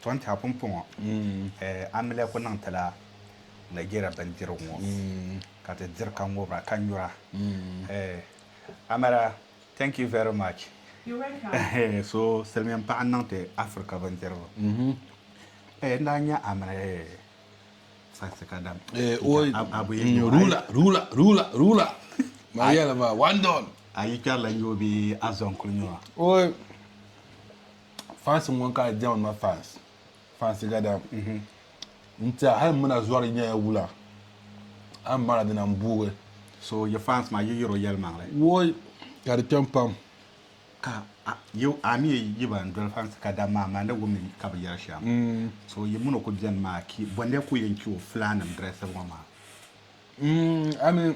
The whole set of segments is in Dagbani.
Tɔn tɛha pumpɔŋɔ Amilɛ ku niŋ ti la Nigeria bindirigu ŋɔ ka ti diri ka ŋubira ka nyura. Amara thank you very much. You're welcome. So silimiin paɣa n-niŋ ti Africa bindirigu. N daa nya Amara saɣisi ka dam. Ruler, ruler, ruler, ruler. Maa yɛli ba one don. A yi kpɛrila nyubu bee a zɔŋ kuli nyubu a? Fans n ŋɔ ka a diɛma ma fans fans gada n tiɛha hali muna zɔri nyɛla wula a ni mara dina n buugi So yi fans maa yi yiri o yɛlimaŋli. Woi ka di kpɛm pam. Ka a yi a mi yi ban doli fans gada maa maa ni wumdi ka bi yɛri shɛm So yi muni o ku beni maa ki bɔndɛ ku yɛn chi o fulaannim drɛsibu ŋɔ maa? Amin.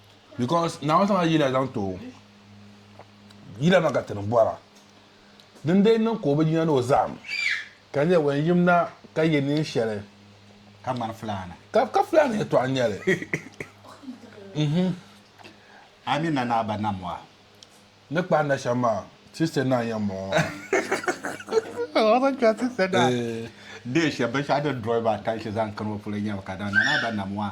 Because Naawuni zaŋla yila zaŋ ti o. Yila maa ka ti ni bɔra. Din dee niŋ ka o bi yina ni o zahim, ka nyɛ wan yim na ka ye neen shɛli. Ka ŋmani fulaana. Ka, ka fulaana yɛtɔɣa n-nyɛ li. Mhm. A ni na ni a ba nam wa? Ni kpahi na shɛm maa, sister naa n-yɛn bɔŋɔ. O zaŋ kpɛri sister naa. Eeh. Deen shɛm, binshɛɣu din drɔi maa attention zaŋ kani o polo n-nyɛ mi ka daa na ni a ba nam wa?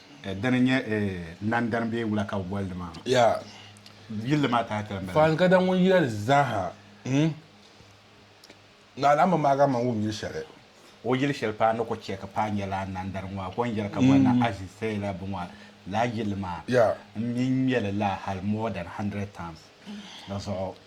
Dini n nyɛ nandani bee wula ka bɛ boli di maa? Yaa! Yilli maa tahi tali m-bala. Faan Gada ŋun yɛli zaaha n na alaamba maa ka man wum yili shɛli. O yili shɛli paa ni ku chɛ ka paa nyɛla nandani ŋɔ a kɔŋ yɛli ka boli na Aziz Seyla Bunwa laa yilli maa. Yaa! M mi n-ŋme li laa hal more than hundred times di zuɣu.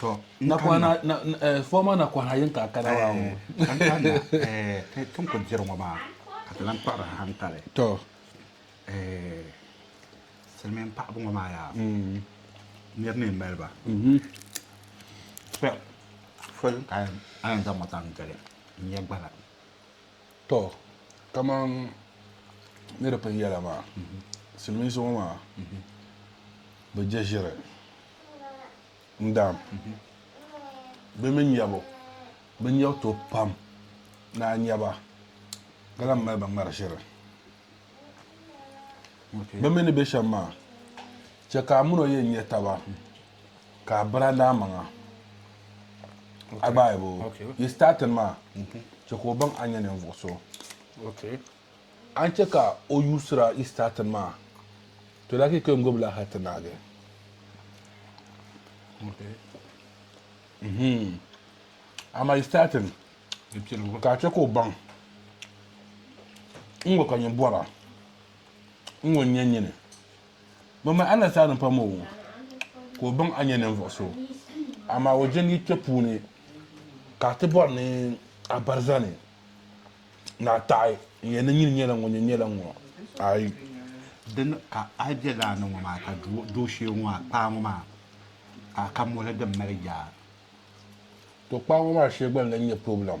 to nakwana na eh, former nakwana yin ka kana wa o kan kanna eh, ti tin ku diri ŋɔ maa ka ti lan kpuɣiri hankali to eh, silimiin paɣaba ŋɔ maa yaa mm. nir ni mali ba mhm. fol ka a yɛn zaŋ ŋɔ zaŋ gili n-nyɛ gbana Tɔ, kaman ni di pun yɛla maa, silimiinsi ŋɔ maa bi je ʒiri n-daam. Bɛ mi nyɛbu, bɛ nyɛbu tooi pam ni a nya ba ka lahi mali ba ŋmari ʒiri. Bɛ mi ni be shɛm maa, chɛ ka a min o yɛn nya taba. ka a biri a daa maŋa a gbaai bo yi startin maa chɛ ka o baŋ a nyɛ ninvuɣ so a ni chɛ ka o yuusira yi startin maa to daa kika n-gbubi la hal ti naagi mhm. amaa yi startin ka a chɛ ka o baŋ n ŋɔ ka nyin bɔra n ŋɔ n-nyɛ nyini Bɛ mi Allah saa ni pam o ŋɔ ka o baŋ a nyɛ ninvuɣ so, amaa o jɛm yi kpe puuni ka a ti bɔri ni a barizani ni a taɣi n yɛn ni nyini nyɛla ŋun nyɛ nyɛla ŋɔ ayi. Dini ka a yi be laa ni ŋɔ maa ka dooshee ŋɔ a kpaa ŋɔ maa ka a ka moli din mali yaa? To kpaa ŋɔ maa shee gba n-lan nyɛ problem.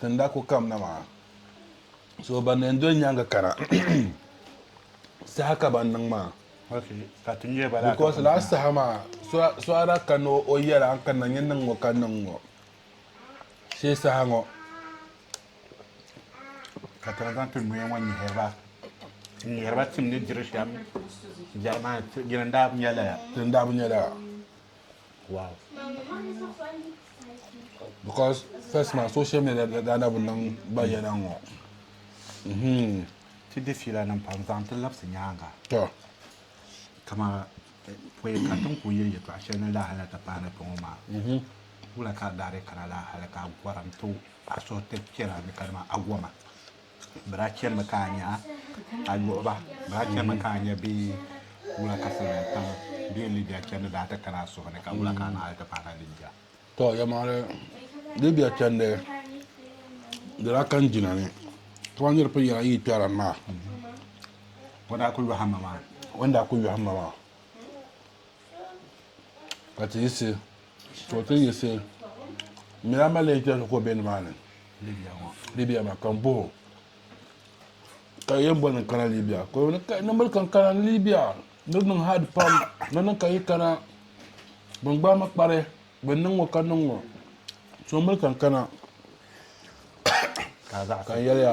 tin daa ku kamna maa. So ban leen doli nyaŋga kana saha ka ban niŋ maa. Bikos lala saha maa so a daa kanna o yɛla n kanna nyɛ niŋ ŋɔ ka niŋ ŋɔ shee saha ŋɔ. Ka tana zaŋ ti noya ŋɔ nyihiri ba n nyihiri ba tim ni diri shɛm jɛri maa ti dini daa bi nyɛ lala. Dini daa bi nyɛ lala. Wow. Because first man social media da da da bi niŋ gba yɛla n ŋɔ. Mhm. Ti di fiila nim pam zaŋ ti labisi nyaanga. Tɔ. Kama eh, pɔi ka tin ku yili yɛtɔɣa shɛli ni laa hali ti pahi ni pɔŋɔ maa. Mhm. Wula ka a daari kana laa hali ka a gɔrim ti a suhi ti kpɛra ni kadama a goma. Bɛ daa chanimi ka a nya a luɣi ba. Bɛ daa chanimi ka a nya bɛ wula ka Simiyan tam bɛ yɛn Libia chandi daa ti kana a suhu ni ka wula ka a naɣili ti paana Libia? Tɔ! Yɛlimaŋli, Libia chandi di daa kani jina ni ka ban niriba pun yɛli a yi yi kpɛri a ni maa. O daa ku yɔhim ma maa. O ni daa ku yɔhim ma maa. ka ti yiɣisi to ti yiɣisi n nyɛla malɛka so ka o bɛ nimaani libiya maa ka n boho ka yɛn boli ni kana libiya ka o ni ka nimboli ka n kana ni libiya ni niŋ haad pam ni niŋ ka yi kana bin gbaai mi kpari bin niŋ ŋo ka niŋ ŋo so n boli ka n kana ka n yɛliya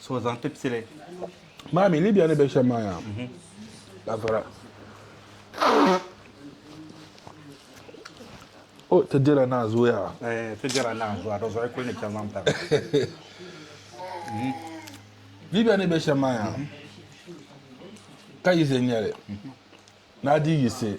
So zaŋ ti pili. Maa mi Libya ni be shem maa yaa. Ba vara. O ti dira naa zuya. Eh, ti dira naa zuya. Do zoi kuli ni chel mam tam. Libya ni be shem maa yaa. Ka yize nyɛli. Naa di yise.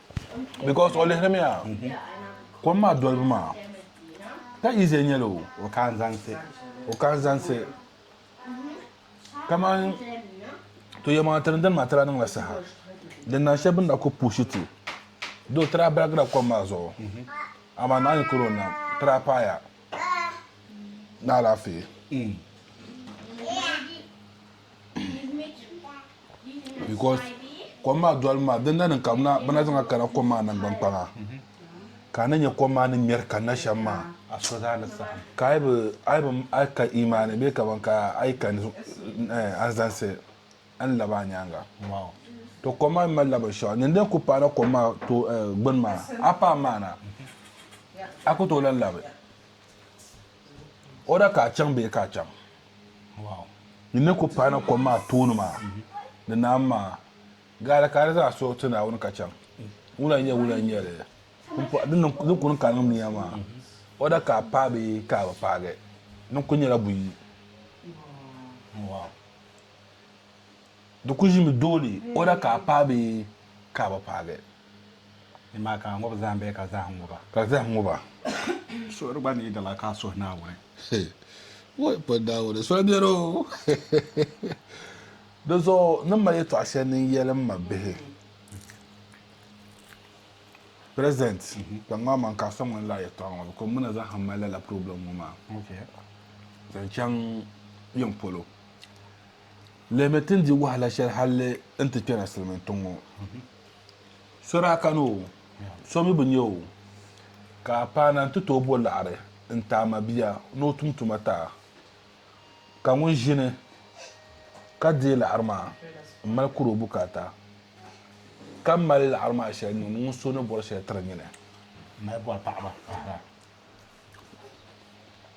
because o lihirimiya kom maa dolibu maa ka easy nyɛli o o ka n zaŋsi o ka n zaŋsi kamani to yɛm a tiri dini maa tira niŋla saha din na shɛba bin na ku puushi ti doo tira baligira kom maa zuɣu amaa naa yi kuri o nam tira paaya ni alaafee because kom maa dolibu maa din na niŋ ka bɛ na zaŋa kana kom maa nangban kpaŋa ka a ni nyɛ kom maa ni ŋmɛri kanna shɛm maa ka a yi bi a yi ka imaani bee kaman ka a yi ka eh, a ni zaŋsi a ni labi a nyaaŋa to kom maa mi malila binshɛɣu ni din ku paana kom maa to eh, gbini maa a paai maana a ku tooi lan labi O da ka a chaŋ bee ka a chaŋ? Yi ni ku pahi na kom maa tooni maa ni naam maa, gaali ka a di zaa suhi ti Naawuni ka chaŋ. Wula n-nyɛ wula n-nyɛ li din kuni ka niŋ nia maa? O da ka a paai bee ka a bi paagi? Din kuli nyɛla buyi. Di ku ʒimi dooli o la ka a paai bee ka a bi paagi. Ni maa ka a ŋub zahim bee ka zahim ŋub a? Ka zahim ŋub a? Suhuri gba ni dala ka a suhi Naawuni. He! Woi pɔ Naawuni soli biɛri o! Di zuɣu ni mali yɛtɔɣ shɛli ni n-yɛli m ma bihi, President, kpaŋ ŋɔ man ka a sɔŋ n-lahi yɛtɔɣ ŋɔ bikɔŋ mi na zaŋ mali lala problem ŋɔ maa zaŋ chaŋ yiŋ polo. Lihimi ti ni di wahala shɛli hali n ti kpɛra silimiin tiŋ ŋɔ. So daa kani o, so mi bi nya o, ka a paana nti tooi bo laɣiri n-ti a mabia ni o tum tuma ti a. Ka ŋun ʒini ka deei laɣiri maa m-mali kuri o bukaata, ka mali laɣiri maa shɛli niŋdi ŋun so ni bɔri shɛli tiri nyini.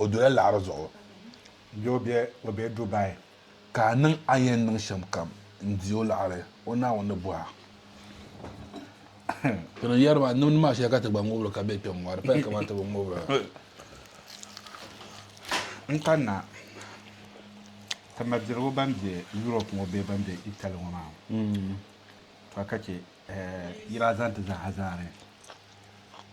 o dola laɣiri zuɣu bee o be o be Dubai ka a niŋ a ni yɛn niŋ shɛm kam n-di o laɣiri o Naawuni ni bɔhi a. Ti ni yɛri maa nimdi maa shɛli ka ti gba ŋubiri ka be kpɛm ŋɔ di paya kamani ti bi ŋubira. N kanna ka ma dirigu ban be Europe ŋɔ bee ban be Italy ŋɔ maa ka ka chɛ yi daa zaŋ ti zaaha zaani.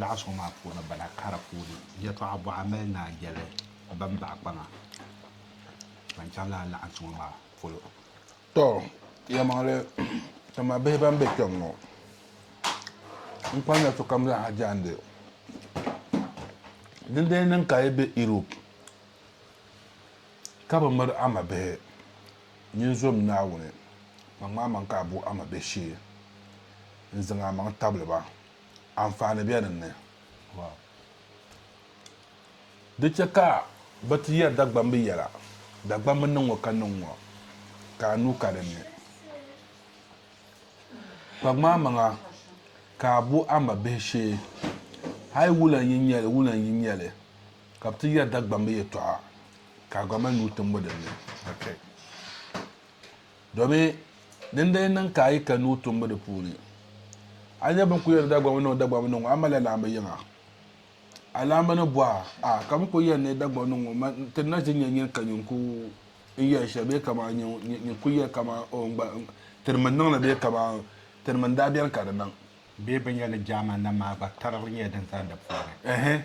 Laɣis ŋɔ maa puuni bana kara puuni yɛtɔɣa bɔɣa mali naan yɛli ban baɣi kpaŋa ban chaŋ lala laɣinsi ŋɔ maa polo. Tɔ, yɛlimaŋli, dama bihi ban be kpɛm ŋɔ, n kpaŋya sokam zaaha jaandi. Di lee niŋ ka a yi be Europe ka bi miri a mabihi, Nyin zom Naawuni, kpaŋm a maŋ ka a bo a mabihishee n-zaŋ a maŋ tabili ba. Anfaani be din ni. Di chɛ ka bɛ ti yɛri Dagbamb yɛla, Dagbamb niŋ ŋɔ ka niŋ ŋɔ, ka a nuu ka din ni. Kpaŋm a maŋa ka a bo a mabihishee, hal wulan yi nya li, wulan yi nya li, ka bɛ ti yɛri Dagbamb yɛtɔɣa. ka a gba mali nuu timbu din ni ka kpe. Domin din daa niŋ ka a yi ka nuu timbu di puuni, a nya bini ku yɛn ni Dagbamba niŋ Dagbamba niŋ ŋɔ, a malila laamba yiŋa. A laamba ni bɔh a, A, ka bini ku yɛn ni Dagbamba niŋ ŋɔ, man ti na ʒi nya nyin ka nyin ku n yɛli shɛli bee kaman nyin ku yɛli kaman, Oo, n gba, n, tiri mi n niŋ li bee kaman tiri mi n daa beni ka di niŋ. bee bɛ nya ni German nam maa gba tarigili nyɛla din zani di puuni. Ɛhɛ,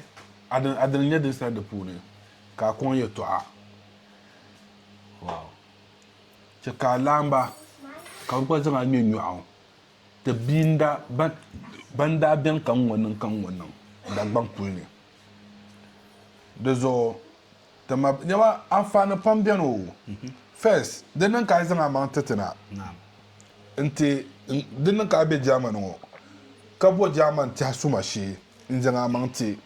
adil, adil nyɛ din sani di puuni, ka a kɔŋ yɛtɔɣa. Wow. Chɛ ka a laɣim ba, ka bɛ gba zaŋ a ŋme nyɔɣu. Ti bia n-daa, ban, ban daa beni ka ŋ-ŋɔ niŋ ka ŋ-ŋɔ niŋ Dagbaŋ puli ni. Di zuɣu. Dama nyɛma anfaani pam beni o. First, di niŋ ka a zaŋ a maŋ ti ti na. Nti di niŋ ka a be Germany ŋɔ ka bo German tɛha suma shee n-zaŋ a maŋ ti.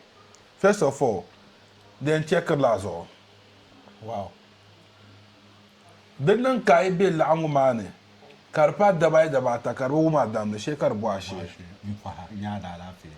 First of all, di yɛn chɛkiri la a zuɣu. Wow. Di niŋ ka a yi be laɣingu maa ni ka di paai daba ayi daba ata ka di bi wum a damdi shee ka di bɔh a shee. N pɔha, n-nya a daalaafee.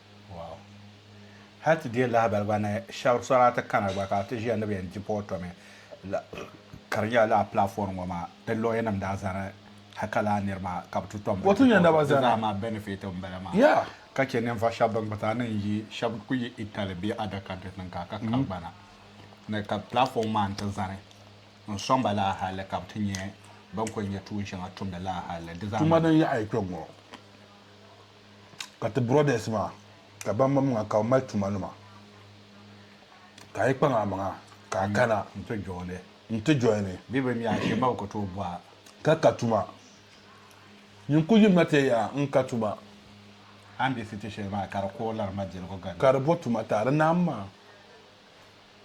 Wow. Hal ti deei lahabali gba ni shɛb sɔri a ti kana gba ka a ti ʒiya ni bɛ yɛn di pa o tomi la ka di nyɛla lala platform ŋɔ maa di lawyer nim daa zani ha ka lala niri maa ka bɛ ti tom Wato nyɛ naba zani. di zaa maa benefit m bala maa Yeah. ka che ninvuɣ shɛb bɛn kputa ni n yi shɛb ku yi Italy bee other countries nim ka ka kari gbana ni ka platform maa n-ti zani n sɔŋ ba lala hali ka bɛ ti nyɛ bɛn ku nyɛ tuun shɛŋa tumdi lala hali di zaa Tuma din yaɣi ya kpe ŋ-ŋɔ. Ka ti brothers maa ka ban mam ŋa ka bɛ mali tuma nima ka a yi kpaŋ a maŋa ka a kana nti joini nti joini bɛ bɛ mi a shee ma bi ku tooi bɔha. Ka ka tuma. Nyin ku yim na ti ya n ka tuma. A ni be city shɛli maa ka di ku lari ma jɛligu gari. Ka di bo tuma taali naam maa.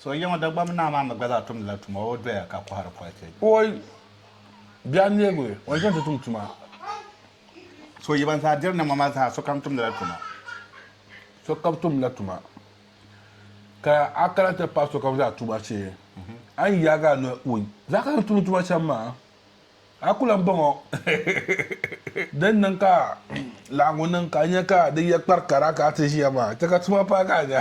So yiŋɔ Dagbamba naa maa mi gba zaa tumdi la tuma o doya ka kɔhiri polichi. O bɛ a neebu o ni chaŋ ti tum tuma. So yi ban zaa diri niŋma maa zaa sokam tumdi la tuma. Sokam tumdi la tuma ka a kana ti paai sokam zaa tuma shee a ni yaagi a noli o zaa kana ti tum tuma shɛm maa. A ku lan bɔŋɔ din niŋ ka laɣiŋgu niŋ ka a nya ka di ya kpari kara ka a ti ʒiya maa, chɛ ka tuma paai ka a nya.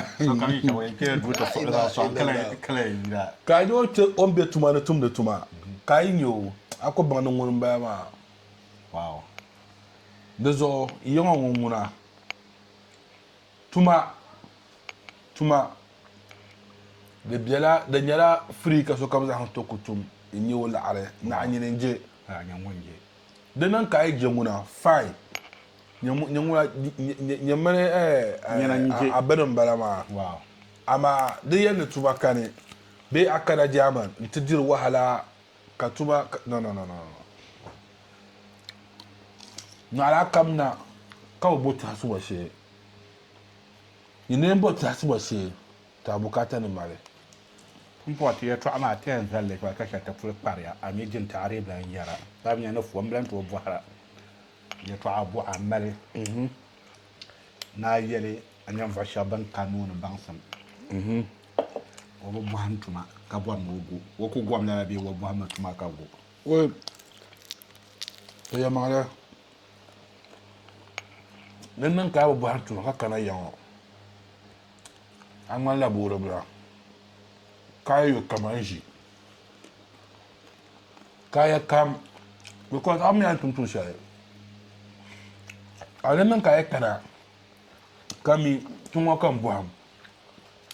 Ka a nya o kpe o ni be tuma ni tumdi tuma, ka a yi nya o, a ku baŋ ni ŋuni m-bala maa. Di zuɣu yiŋɔ ŋun ŋuna. Tuma, tuma, di bela, di nyɛla free ka sokam zaɣim to ku tum n nyɛ o laɣiri, naɣi nyini n je. Ka nyɛ ŋun je. Di niŋ ka a yi je ŋuna, fine, nyɛ ŋun, nyɛ ŋuna, nyɛ, nyɛ mini eh, a, a bini n bala maa. Wow. Amaa di yɛn ni tuma kani, bee a kana German n ti diri wahala Ka tuma ka, no, no, no, no, no. Nyɔɣila kam na ka bi bo tɛhisibo shee. Yi neen bo tɛhisibo shee, ti a bukaata ni mali. M pɔi ti yɛtɔɣa maa ti yɛn zalli pay ka shɛli ti puli kpariya, a mi jinti a dii bi lan yɛra. Ka bi nya ni fo, m bi lan tooi bɔhira. Yɛtɔɣa buɣa m-mali ni a yɛli a nyɛnvuɣ shɛb bɛn ka nuu ni baŋsim. O bi bɔhim tuma ka bɔri ni o gu. O ku gom lala bee o bɔhimmi tuma ka gu. O yɛlimaŋli din niŋ ka a bi bɔhim tuma ka kana ya ŋɔ, a ŋmanila boori bila ka a yo kaman ʒi kaaya kam bikos a mi a ni tum tuun shɛli. A din niŋ ka a kana ka mi tiŋ ŋɔ ka m bɔhim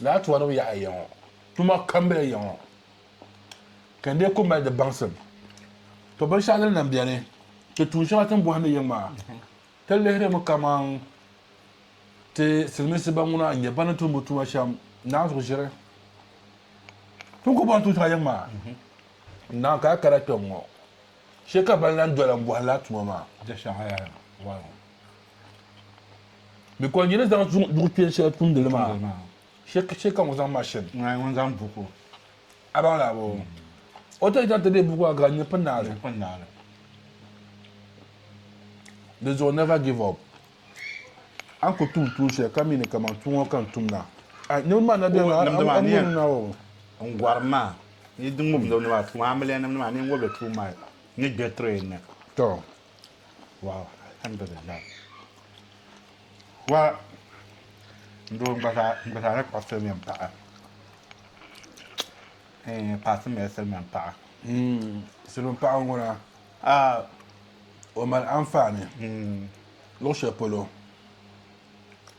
Lala tuma ni o yaɣi a ya ŋɔ, tuma kam bela ya ŋɔ ka n dee ku mali di baŋsim. To binshɛɣu din lan beni, ti tuun shɛŋa ti ni bɔhindi yiŋ maa, ti lihirimi kaman ti Silimiinsi ban ŋuna n-nyɛ bɛ ni tum bɛ tuma shɛm Naa zuɣu ʒiri. Ti ni ku bɔhindi tuun shɛŋa yiŋ maa, n Naa ka a kana kpɛŋ ŋɔ, shee ka bɛ ni lan doli a m-bɔhi lala tuma maa. Bɛ kɔli nyini zaŋ zuŋ duɣu kpɛn shɛli tumdili maa shɛ ka ŋun zaŋ mashin ŋun zaŋ buku a baŋ laa bɔ o ti zaŋ ti bɛ buku a gaa nyɛ pin naali di zuɣu never give up an ku tum tuun shɛli ka mi ni kaman tuun ŋɔ ka n tum na niriba maa na bɛni n gɔri maa ni di ŋubdila ni maa tuun amiliya nim ni maa ni n ŋubli tuun maa ni gbɛ train ni waaw alhamdulillah wa n doo n gba zaa n gba zaa na kpuɣi silmiin paɣa eh, paɣa ti mali silmiin paɣa Mm, silmiin paɣa ŋɔ na a o mali anfaani luɣu shɛli polo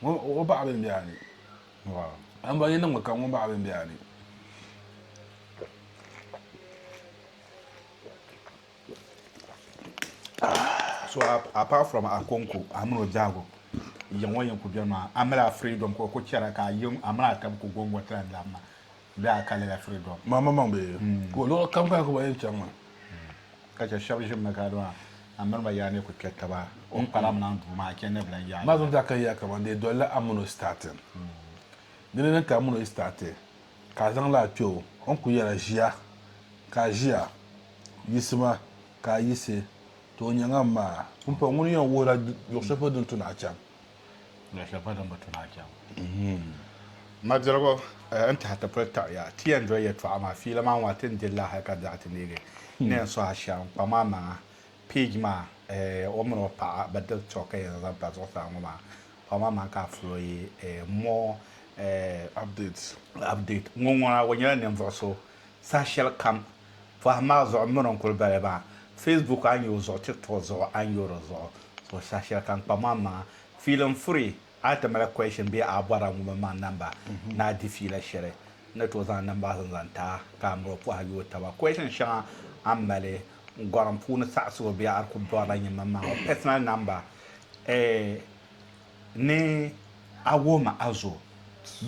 Ŋun baɣa bɛn be a ni? N bɔ yi niŋ mi ka ŋun baɣa bɛn be a ni? So apart from Akonko a mini o biɛhigu yiŋ ŋɔ yɛn ku beni maa, a mali a freedom ka o ku chɛra ka a yiŋ a mini a taba ku gɔŋgɔ ti lan labi ma. Bɛ a kalila freedom. Maŋ maŋ bɛ ko luɣi kam ka kuba yɛn chaŋ ma. Ka chɛ shɛba ʒimi ka di maa a mini ba yaa ni ku kpɛ taba o ni kpalim niŋ duu maa a chɛ ni bɛ lan yaai. Maa zuŋ daa ka yaa kaman di yi dolila a mini o starting. Di ni niŋ ka a mini o yi start ka a zaŋ li a kpɛ o o ni ku yɛla ʒiya ka a ʒiya yiɣisi ma ka a yiɣisi ti o nyɛŋa m maa pumpɔŋ ŋuni yɛn wuhira luɣi shɛli polo din tu ni a chaŋ. Madirigu n tahi ti pili taɣiya ti yɛn doli yɛltɔɣa maa fiila maa ŋɔ ti ni diri li hali ka daɣi ti neegi n ni yɛn suhi a shɛm n kpa maa maŋa page maa o mini o paɣa bɛ diri tɔɣu ka yɛn zaŋ pa zuɣusaa ŋɔ maa kpa maa maŋa ka a fulooyi more update ŋɔ ŋuna o nyɛla ninvuɣu so saha shɛli kam Pɔhim maa zuɣu m mini n kuli bala maa, Facebook a ni yo zuɣu, TikTok zuɣu a ni yo di zuɣu, so saha shɛli ka n kpam a maŋa. Fiili n furi, a ti mali question bee a bɔra n wummi ma n namba ni a di fiila shɛli, n ni tooi zaŋ namba zim zaŋ ti a ka a miri o pɔhim yooi taba. Question shɛŋa a ni mali n gɔrim puuni saɣisigu bee a di kuli bɔrila nyin mini ma ŋɔ personal namba eh ni a wuhim a zo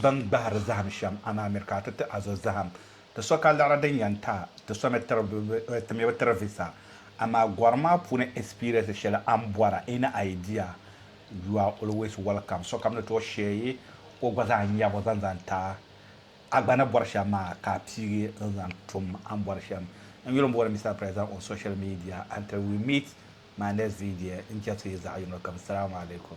bini gbahiri zahim shɛm a ni a miri ka a ti ti a zo zahim Ti so ka liɣiri din yɛn taai ti so mi ti mi bi tiri visa. Amaa gɔri maa puuni experience shɛli a ni bɔra any idea? You are always welcome. Sokam ni tooi share o gba zaa nyɛbu zaŋ zaŋ ti a. A gba ni bɔri shɛm maa ka a piigi n zaŋ tum a ni bɔri shɛm. N yuli m-booni Mister President on social media until we meet my next video n-chɛ so yi zaɣi yino kam. Salaam alaikum.